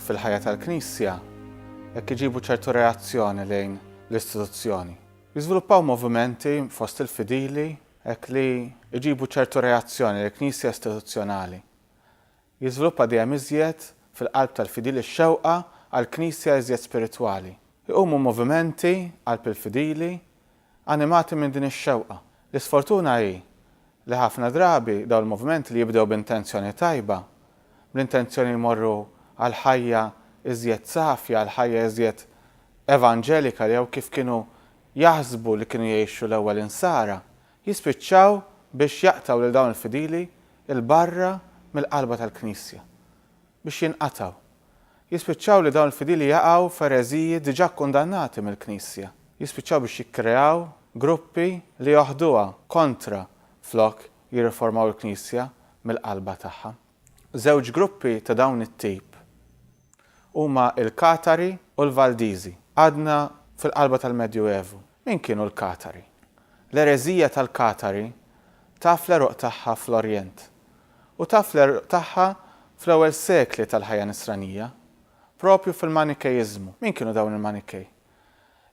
fil-ħajja tal-Knisja jekk iġibu ċertu reazzjoni lejn l-istituzzjoni. Jiżviluppaw movimenti fost il-fidili hekk li jġibu ċertu reazzjoni lejn Knisja istituzzjonali. Jiżviluppa dejjem iżjed fil-qalb tal-fidili x-xewqa għal Knisja iżjed spiritwali. Iqumu movimenti qalb il-fidili Animati minn din ix-xewqa. L-isfortuna hi li ħafna drabi dawn il-movimenti li jibdew b'intenzjoni tajba, bl-intenzjoni jmorru għal ħajja iżjed safja, għal ħajja iżjed evanġelika jew kif kienu jaħsbu li kienu jgħixu l-ewwel Insara, jispiċċaw biex jaqtgħu lil dawn il-fidili 'l barra mill-qalba tal-Knisja. biex jinqatgħu. Jispiċċaw li dawn il-fidili jaqgħu f'ereżiji diġà kkundannati mill-Knisja. Jispiċċaw biex jikkreaw gruppi li joħduha kontra flok jirriformaw il-Knisja mill-qalba tagħha. Żewġ gruppi ta' dawn it-tip huma l-Katari u l-Valdiżi. Għadna fil-qalba tal-Medjuevu. Min kienu l-Katari? L-ereżija tal-Katari taf l-għeruq tagħha fl-Orjent, U taf l-għerq tagħha fl-ewwel sekli tal-ħajja Nisranija, proprju fil-Manikkeiżmu. Min kienu dawn il-Manikkej?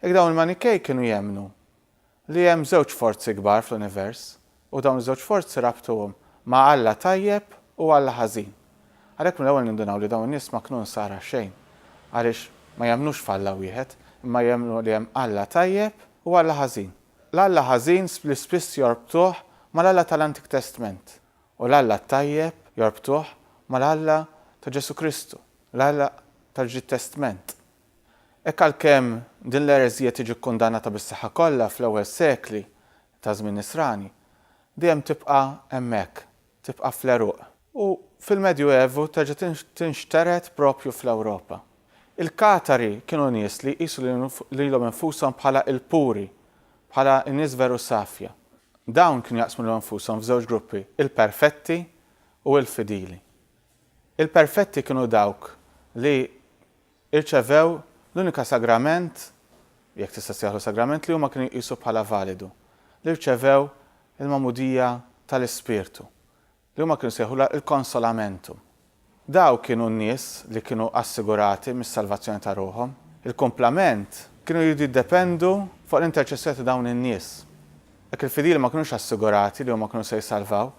Ek dawn il-Manikkej kienu jemmnu li hemm żewġ forzi kbar fl-univers u dawn iż-żewġ forzi rabtuhom ma' Alla tajjeb u Alla ħażin. Għalhekk mill-ewwel nindunaw li dawn in-nies ma knu Nsara xejn għaliex ma jemmnux f'Alla wieħed imma jemmnu li hemm Alla tajjeb u Alla ħażin. L-Alla ħażin li spiss jorbtuh mal-Alla tal-Antik Testment u l-Alla t-tajjeb jorbtuh mal-Alla ta' Ġesù Kristu, l-Alla tal-Ġdid Testment. Hekk għalkemm din l-ereżija tiġi kkundannata bis-saħħa kollha fl-ewwel sekli taż-Żmien Nisrani, dejjem tibqa' hemmhekk, tibqa' fl-għeruq. U fil-Medju Evu terġa' tinxtered proprju fl-Ewropa. Il-Katari kienu nies li jqisu lilhom infushom bħala il-puri, bħala n-nies veru safja. Dawn kienu jaqsmu lilhom infushom f'żewġ gruppi, il-perfetti u l-fidili. Il-perfetti kienu dawk li rċevew l-unika sagrament, jekk tista' ssejjaħlu sagrament, li huma kienu jqisu bħala validu, li rċevew il-magħmudija tal-Ispirtu. li huma kienu sejħulha il-consolamentum. Dawk kienu n-nies li kienu assigurati mis-salvazzjoni ta' ruħhom. Il-kumplament kienu jridu jiddependu fuq l-interċessjoni ta' dawn in-nies. Hekk il-fidili ma kinux assigurati li huma kienu se jsalvaw,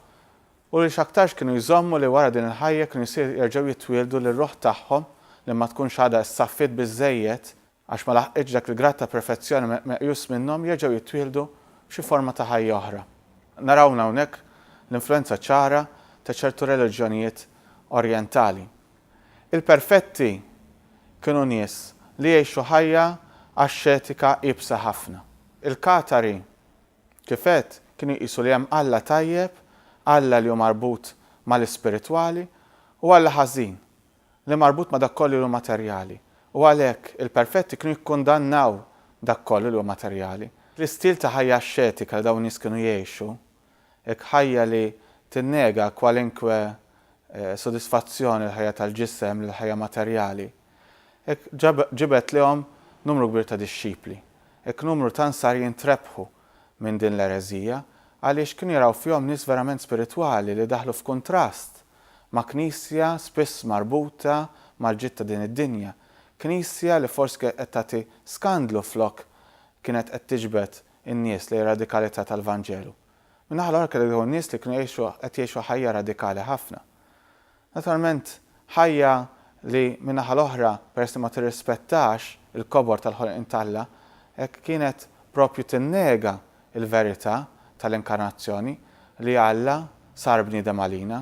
u li x'aktarx kienu jżommu li wara din il-ħajja kienu jsir jerġgħu jitwieldu li r-ruħ tagħhom li ma tkunx għadha issaffiet biżżejjed Għax ma laħqitx dak il-grad ta' perfezzjoni meqjus minnhom jerġgħu jittwieħdu f'xi forma ta' ħajja oħra. Narawna hawnhekk l-influwenza ċara ta' ċertu reliġjonijiet orjentali. Il-perfetti kienu nies li jgħixu ħajja axxetika iebsa ħafna. Il-Katari, kif għedt, kienu jqisu li hemm Alla tajjeb, Alla li hu marbut mal-ispiritwali, u Alla ħażin, li marbut ma' dak kollu li hu materjali, u għalhekk, il-perfetti kienu jikkundannaw dak kollu li hu materjali. L-istil ta' ħajja axxetika li dawn in-nies kienu jgħixu, hekk ħajja li tinnega kwalinkwe sodisfazzjon lill-ħajja tal-ġisem, lill-ħajja materjali, hekk ġibed lihom numru kbir ta' dixxipli. Hekk numru ta' nsarjin trebħu minn din l-ereżija, għaliex kienu jaraw fihom nies verament spiritwali li daħlu f'kuntrast ma' Knisja spiss marbuta mal-ġid ta' din id-dinja, Knisja li forsi kienet qed tagħti skandlu flok kienet qed tiġbed in-nies lejn radikalità tal-Vanġelu. Min-naħa l-oħra kellek dawn in-nies li kienu jgħixu qed jgħixu ħajja radikali ħafna. Naturalment, ħajja li, min-naħa l-oħra, peress li ma tirrispettax il-kobor tal-ħolqien t'Alla, hekk kienet proprju tinnega il-verità tal-Inkarnazzjoni, li Alla sar bniedem għalina.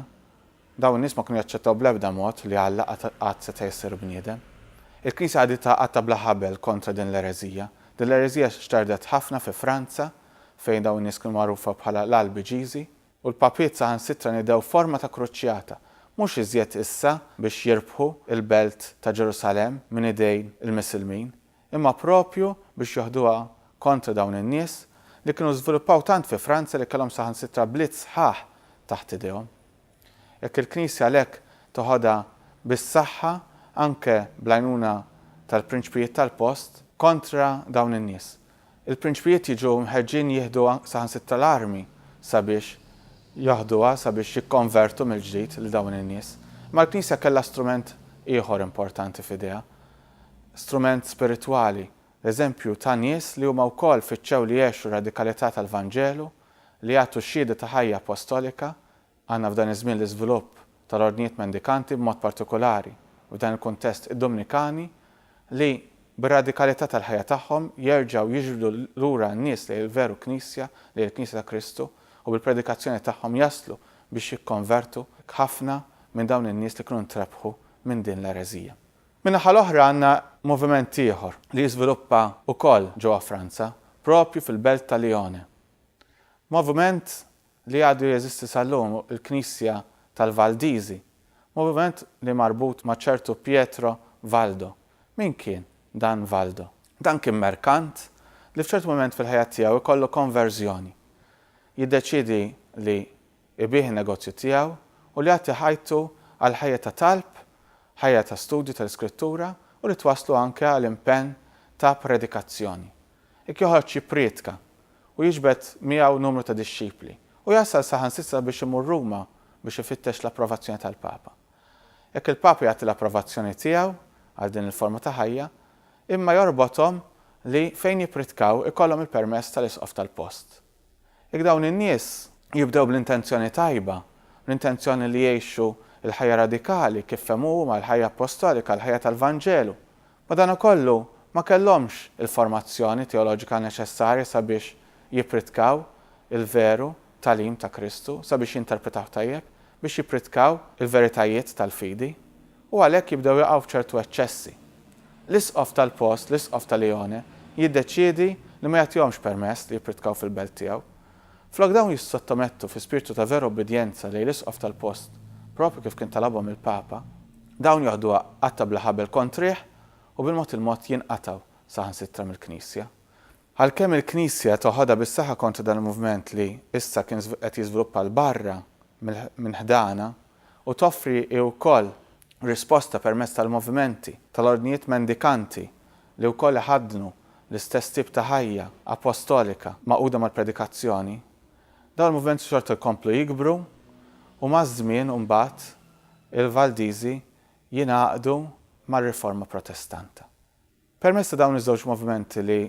Dawn in-nies ma kienu jaċċettaw bl-ebda mod li Alla qatt seta' jsir bniedem. Il-Knisja qagħditha qatta bla ħabel kontra din l-ereżija. Din l-ereżija xterdet ħafna fi Franza, fejn dawn in-nies kienu magħrufa bħala l-Albiġiżi, u l-papiet saħansitra nidew forma ta' kruċjata, mhux iżjed issa biex jirbħu l-belt ta' Ġerusalemm minn idejn il-Misilmin, Imma proprju biex joħduha kontra dawn in-nies, li kienu żviluppaw tant fi Franza li kellhom saħansitra bliet sħaħ taħt idejhom. Jekk il-Knisja għalhekk teħodha bis-saħħa, anke bl-għajnuna tal-prinċpijiet tal-post, kontra dawn in-nies, il-prinċpijiet jiġu mħeġġin jieħdu saħansitra l-armi sabiex joħduha, sabiex jikkonvertu mill-ġdid lil dawn in-nies. Imma l-Knisja kellha strument ieħor importanti f'idejha, strument spiritwali, l-eżempju ta' nies li huma wkoll fittxew li jgħexu r-radikalità tal-Vanġelu, li jagħtu xhieda ta' ħajja appostolika, għandna f'dan iż-żmien l-iżvilupp tal-ordnijiet mendikanti b'mod partikulari, f'dan il-kuntest id-Dumnikani, li bir-radikalità tal-ħajja tagħhom jerġgħu jiġbdu lura n-nies lejn il-veru Knisja, lejn il-Knisja ta' Kristu, u bil-predikazzjoni tagħhom jaslu biex jikkonvertu ħafna minn dawn in-nies li kienu ntrebħu minn din l-ereżija. Min-naħa l-oħra għandna moviment ieħor li jiżviluppa wkoll ġewwa Franza, proprju fil-belt ta' Lione. Moviment li għadu jeżisti sal-lum hu l-Knisja tal-Valdiżi, moviment li marbut ma' ċertu Pietro Valdo. Min kien dan Valdo? Dan kien merkant li f'ċertu mument fil-ħajja tiegħu jkollu konverżjoni. Jiddeċiedi li Ibigħ in-negozju tiegħu u li jagħti ħajtu għal ħajja ta' talb, ħajja ta' studju tal-Iskrittura u li twasslu anke għal impenn ta' predikazzjoni. Hekk joħroġ jipprietka u jiġbed miegħu numru ta' dixxipli u jasal saħansitra biex imur Ruma biex ifittex l-approvazzjoni tal-Papa. Hekk il-Papa jagħti l-approvazzjoni tiegħu għal din il-forma ta' ħajja, imma jorbothom li fejn jipprietkaw ikollhom il-permess tal-Isqof tal-post. Jekk dawn in-nies jibdew bl-intenzjoni tajba, bl-intenzjoni li jgħixu l-ħajja radikali kif fehmu huma, l-ħajja appostolika, l-ħajja tal-Vanġelu, madankollu ma kellhomx il-formazzjoni teoloġika neċessarja sabiex jippridkaw il-veru tagħlim ta' Kristu, sabiex jinterpretawh tajjeb, biex jippridkaw il-veritajiet tal-fidi. u għalhekk jibdew jaqgħu f'ċertu eċċessi. L-isqof tal-post, l-isqof ta' Lione, jiddeċiedi li ma jagħtihomx permess li jippritkaw fil-belt tiegħu. Flok dawn jissottomettu fi spirtu ta' vera ubbidjenza lejn l-isqof tal-post, proprju kif kien talabhom il-Papa, dawn joħduha qatta' bla ħabel kontrih u bil-mod il-mod jinqatgħu saħansitra mill-Knisja. Għalkemm il-Knisja toħodha bis-saħħa kontra dan il-moviment li issa kien qed jiżviluppa 'l barra minn ħdanha, u toffri hi wkoll risposta permezz tal-movimenti tal-ordnijiet mendikanti li wkoll iħaddnu l-istess tip ta' ħajja appostolika magħquda mal-predikazzjoni, dawn il-movimenti xorta jkomplu jikbru u maż-żmien mbagħad il-Valdiżi jingħaqdu mar-Riforma Protestanta. Permezz ta' dawn iż-żewġ movimenti li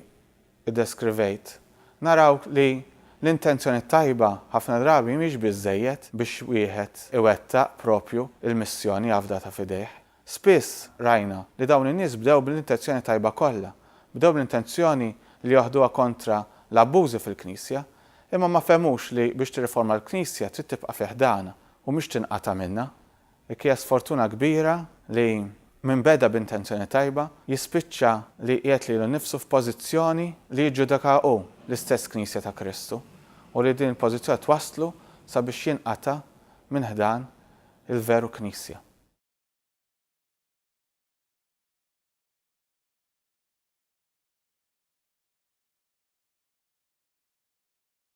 ddeskrivejt, naraw li l-intenzjoni tajba ħafna drabi mhix biżżejjed biex wieħed iwettaq proprju l-missjoni afdata f'idejh. Spiss rajna li dawn in-nies bdew bl-intenzjoni tajba kollha, bdew bl-intenzjoni li joħduha kontra l-abbużi fil-Knisja, imma ma fehmux li biex tirriforma l-Knisja trid tibqa' fi ħdanha u mhix tinqata' minnha. Dik hija sfortuna kbira li min beda b'intenzjoni tajba jispiċċa li jqiegħed lilu nnifsu f'pożizzjoni li jiġġudikaha hu, l-istess Knisja ta' Kristu, u li din il-pożizzjoni twasslu sabiex jinqata' minn ħdan il-veru Knisja.